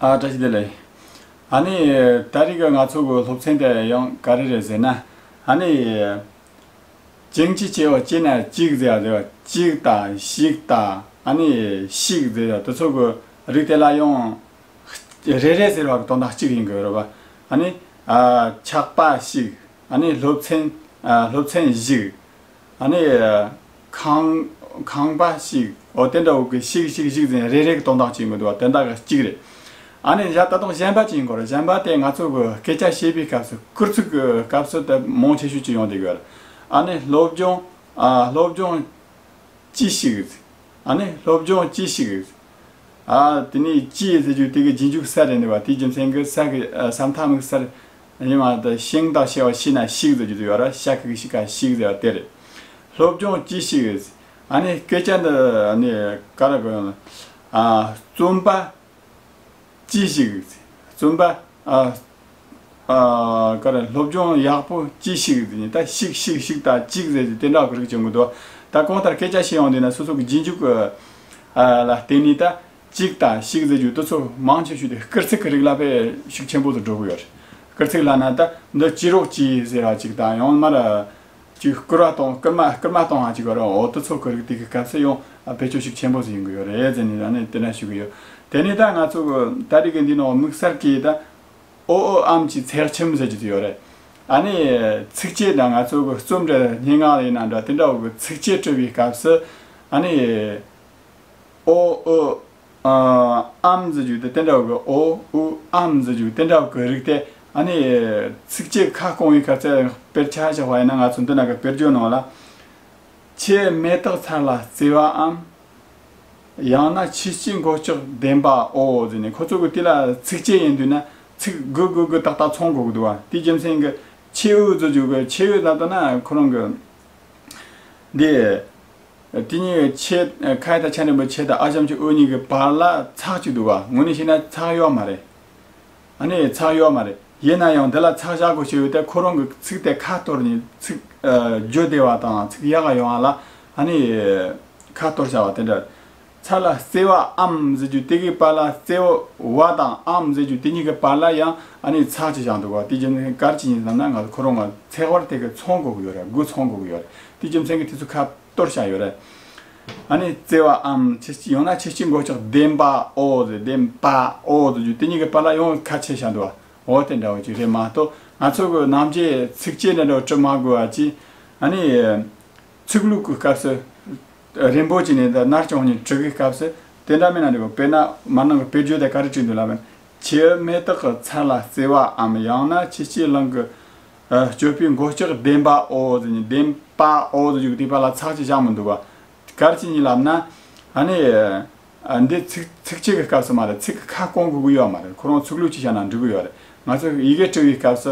ཨ། བཀྲ་ཤིས་བདེ་ལེགས། ཨ་ནི། ད་རེས་ཀྱི་ང་ཚོ་གི་སློབ་ཚན་དེ་ཡང་ག་རེ་རེད་ཟེར་ན། ཨ་ནི། ཅིང་ཅི་ཅེ་བ་ཅེ་ན་ཅིག་ཟེར་བ་དེ་བ་ཅིག་དང་ཤིག་དང་ཨ་ནི། ཤིག་ཟེར་བ་དེ་ཚོ་གི་རིགས་དེ་ལ་ཡང། རེ་རེ་ཟེར་བ་གི་དོན་དག་གཅིག་ཡིན་དགོས་རེད་བ། ཨ་ནི། ཆགས་པ་ཤིག་ཨ་ནི་སློབ་ཚན། སློབ་ཚན་ཤིག། ཨ་ནི། ཁང། ཁང་པ་ཞིག། འོ་དེ་འདྲ་འོ་ཁི་ཤིག་ཤིག་ཤིག་ཟེར་ནས་རེ་རེ་གི་དོན་དག་ཅིག་མི་འདུག་བ་དོན་དག་གཅིག་རེད། ཨ་ནི། ད་དུང་གཞན་པ་ཅིག་འགོ་ར་གཞན་པ་དེ་ང་ཚོ་གི་སྐད་ཆ་བཤད་པའི་སྐབས་སུ་སྐུར་ཚུགས་ཀི་སྐབས་སུ་དེ་མོང་ཆེ་ཤོས་ཅིག་ཡོང་སྡི་གི་རེད། ཨ་ནི། སློབ་སྦྱོང། སློབ་སྦྱོང། ཅི་ཞིག། ཨ་ནི། སློབ་སྦྱོང་ཅི་ཞིག། ཨ་དེ་ནས་ཅི་ཟེར་རྒྱུ་དེ་གི་རྗེས་འཇུག་ས་རེད་འདི་བ་དེ་རྒྱུ་མཚན་གི་ས་གི་ས་མཐའ་མིག་སར། ཡིན་མ་ཏི་ཤིང་དང་ཤེ་བ་ཤི་ན་ཤིག་ཟེར་རྒྱུ་དེ་ཡོད་ར་ཤ་ཁི་ཁི་ཤི་ཁ་ཤིག་ཟེར་བ་དེ་རེད། སློབ་སྦྱོང་ཅི་ཞིག་རེད། ཨ་ནི་སྐད་ཆ་འདི་ནི་ག་རེ་གོ་ཡོང། རྩོམ་པ། ཅི་ཞིག། རྩོམ་པ། ག་རེ་སློབ་སྦྱོང་ཡག་པོ་ཅི་ཞིག་རེད་ནི་ད་ཤིག་ཤིག་ཤིག་དང་ཅིག་ཟེར་རྒྱུ་དེ་འདྲ་ག་རེ་གྱོན་གི་འདུག་ད་གང་ལྟར་སྐད་ཆ་བཤད་ཡོང་དུས་ན་སོ་སོ་གི་རྗེས་འཇུག་ལ་བརྟེན་ནས་ད། གཅིག་དང་བཤིག་རྫས་རྒྱུ་དུ་ཚོ་མང་ཆེ་ཤོས་དེ་སྐར་ཚིག་གི་རིགས་ལ་བས་ཤུགས་ཆེན་པོ་དུ་འགྲོ་གི་ཡོད་རེད། སྐར་ཚིག་ལ་ན་ད་འདི་སྐྱི་རོག་སྐྱི་ཟེར་བ་ཅིག་དང་ཡང་མར། ཅིག་སྐུར་བ་དང་སྐུར་མ་སྐུར་མ་དང་ཧ་ཅིག་བར་འོག་དུ་ཚོ་གི་རིགས་དེ་གི་སྐམ་སའི་ཡང་བེད་སྤྱོད་ཤུགས་ཆེན་པོ་དུ་ཡོང་གི་ཡོད་རེད་ཟེར་ནས་ད་ནི་དེ་འདྲ་ཞུ་གི་ཡོད། དེ་ནས་ད་ང་ཚོ་གི་ད་རིགས་འདི་ནང་དམིགས་བསལ་གྱི་ད་ཨོ་ཨོ་ཨམ་གྱི་ཚེར་ཁྱིམ་ཟེར་གྱི་དུ་ཡོད་རེད། ཨ་ནི་ཚིགས་བཅད་དང་ང་ཚོ་གི་རྩོམ་འབྲི་སྙན་ངག་ལས་ཡིན་ན་འདྲ་དེ་འདྲ་བོ་གི་ཚིགས་བཅད་སྤྲོས་པའི་སྐབས་སུ་ཨ་ནི། ཨོ་ཨུ་ཨ་ཨམ་ཟེར་རྒྱུ་དེ་ཏན་ཏྲའོ་གི་ཨོ་ཨུ་ཨམ་ཟེར་རྒྱུ་ཏན་ཏྲའོ་གི་རིགས་དེ་ཨ་ནི་ཚིག་གཅིག་ཁ་སྐོང་བའི་ཁར་ཚད་དཔེར་ཆ་བཞག་པ་ཡིན་ན་ང་ཚོ་འདི་ན་ག་དཔེར་བརྗོད་གནང་ལ། ཆེས་མེ་ཏོག་ཚར་ལ་བརྩི་བའམ། ཡང་ན་ཆེས་སྐྱིད་འགོ་ལྕོག་ལྡན་པའོ་ཟེར་ནས་ཁོ་ཚོ་གི་དེ་ལ་ཚིག་གཅིག་ཡིན་དུས་ན་ཚིག་དགུ་དགུ་དགུ་ཏག་ཏག་ཚོང་དགོས་ཀྱི་འདུག་བ་དེའི་རྒྱུ་མཚན་གྱི་ཆེས་ཨུ་ཟེར་རྒྱུ་གི་ཆེས་ཨུ་ལ་ལྟོས་ན་ཁོ་རང་གི་འདི། དེ་གཉིས་ཀྱི་ཆེད་ཁ་ཡེ་དང་ཆ་འདྲེན་པའི་ཆེད་དང་ཨ་ཆམ་གྱི་དབུ་གཉིས་ཀྱི་བར་ལ་ཚགས་གཅིག་འདུག་ག་ངོས་ནས་བཤད་ན་ཚགས་ཡོད་མ་རེད། ཨ་ནི་ཚགས་ཡོད་མ་རེད། ཡིན་ན་ཡང་དེ་ལ་ཚགས་བཞག་དགོས་ཞེས་ཡོད་དེ་ཁོ་རང་གི་ཚིག་དེ་ཁ་གཏོར་ནས་ཚིག་བརྗོད་བདེ་བ་དང་ཚིག་ཡག་ག་ཡོང་བ་ལ་ཨ་ནི་ཁ་གཏོར་བྱ་བ་དེ་འདྲ་རེད། ཚ་ལ་བརྩེ་བའམ་ཟེར་རྒྱུ་དེ་གའི་བར་ལ་བརྩེ་བ་དང་འམ་ཟེར་རྒྱུ་དེ་གཉིས་ཀའི་བར་ལ་ཡང་ཨ་ནི་ཚ་ཅེས་བྱ་འདུག་བ་དེ་རྒྱུ་མཚན་གར་ཅི་ཡིན་བསམ་ན་ང་ཚོ་ཁོ་རང་ང་ཚེ་དབར་དེ་གའི་ཚོང་འགུག་ཡོད་རེད་དགུ་ཚོང་འགུག་ཡོད་རེད་དེ་རྒྱུ་མཚན་གྱི་དེ་ཚོ་ཁ་གཏོར་བྱ་ཡོད་རེད། ཨ་ནི་བརྩེ་བའམ་ཆེ་སྐྱི་ཡང་ན་ཆེ་སྐྱི་མགོ་ལྕགས་ལྡེམ་པའོ་ཟེར་ལྡེམ་པའོ་ཟེར་རྒྱུ་དེ་གཉིས་ཀའི་བར་ལ་ཡང་ཁ་ཆེ་བྱ་འདུག་བ་འོ་དེ་འདྲ་བ་ཅིག་རེད་མ་གཏོགས་ང་ཚོ་གི་ནམ་རྒྱའི་ཚིགས་བཅད་འདྲ་འདྲ་བ་བྲི་མ་དགོས་བ་ཅིག་ཨ་ནི་ཚིག་ལུགས་ཀྱི་སྐབས་སུ། རིན་པོ་ཆེ་ནི་ད་ནར་བྱོན་ནས་ཁྲི་གའི་སྐབས་སུ་དེ་འདྲ་མིན་ན་འདི་པ་དཔེར་ན་མར་ནང་གི་དཔེ་བརྗོད་དེ་ག་རེ་བྲིས་འདུག་ལབ་བན་ཆོས་མེ་སྟག་གི་ཚལ་ལ་བརྩེ་བའམ་ཡང་ན་ཕྱི་སྐྱིད་གླིང་གི་སྤྱོད་པའི་མགོ་ལྕོག་བདེན་པ་ཨོ་ཟེར་ནས་བདེན་པ་ཨོ་ཟེར་བརྗོད་གི་བལྟས་པ་ལ་ཚགས་ཅིག་བཞག་མི་འདུག་བ། གལ་ཆེ་གཉིས་ལབ་ན། ཨ་ནི། འདི་ཚིགས་བཅད་ཀྱི་སྐབས་སུ་མ་རེད་ཚིག་གི་ཁ་སྐོང་དགོས་ཀྱི་ཡོད་མ་རེད་ཁོ་རང་ཚུགས་ལུགས་ཅིག་བྱ་ན་འགྲིག་གི་ཡོད་རེད་ང་ཚོ་ཡི་གེ་བྲི་བའི་སྐབས་སུ་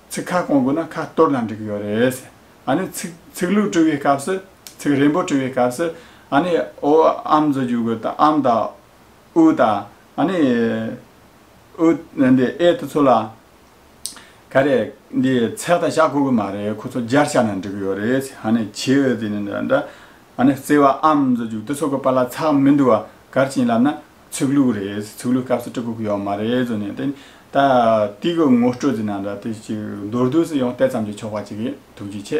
ཚིག་ཁ་སྐོང་དགོས་ན་ཁ་གཏོར་ལ་འགྲིག་གི་ཡོད་རེད། ཨ་ནི་ཚིག་ཚིག་ལུགས་བྲི་བའི་སྐབས་སུ་ཚིག་རིང་པོ་བྲི་བའི་སྐབས་སུ་ཨ་ནི་ཨོ་ཨམ་བཟོ་རྒྱུ་དགོས་དང་ཨམ་དང། ཨུ་དང་ཨ་ནི། ཨུ། འདི་ཨེ་ཏི་ཚོ་ལ། ག་རེ། འདི་ཚེག་དང་ཞག་གོ་གི་མ་རེད་ཁོ་ཚོ་སྦྱར་བྱ་ན་འགྲིག་གི་ཡོད་རེད། ཨ་ནི་བྱེའུ་དེ་ནི་འདྲ་འདྲ། ཨ་ནི་བརྩེ་བ་ཨམ་བཟོ་རྒྱུ་དེ་ཚོ་གི་བར་ལ་ཚག་མི་འདུག་བ་གར་བྱིན་ལབ་ན་ཚུགས་ལུགས་རེད་ཚུགས་ལུགས་སྐབས་སུ་སྤྲུལ་སྐུ་གི་ཡོག་མ་རེད་ཟོ་ནས་དེ་ནི་ད་ལྟའི་གི་ངོ་སྤྲོད་ཀྱི་ནང་དུ་དེ་ཅིག་མདོར་བསྡུས་སུ་ཡང་དེ་ཙམ་གྱིས་ཆོག་པ་ཅིག་གིས་ཐུགས་རྗེ་ཆེ།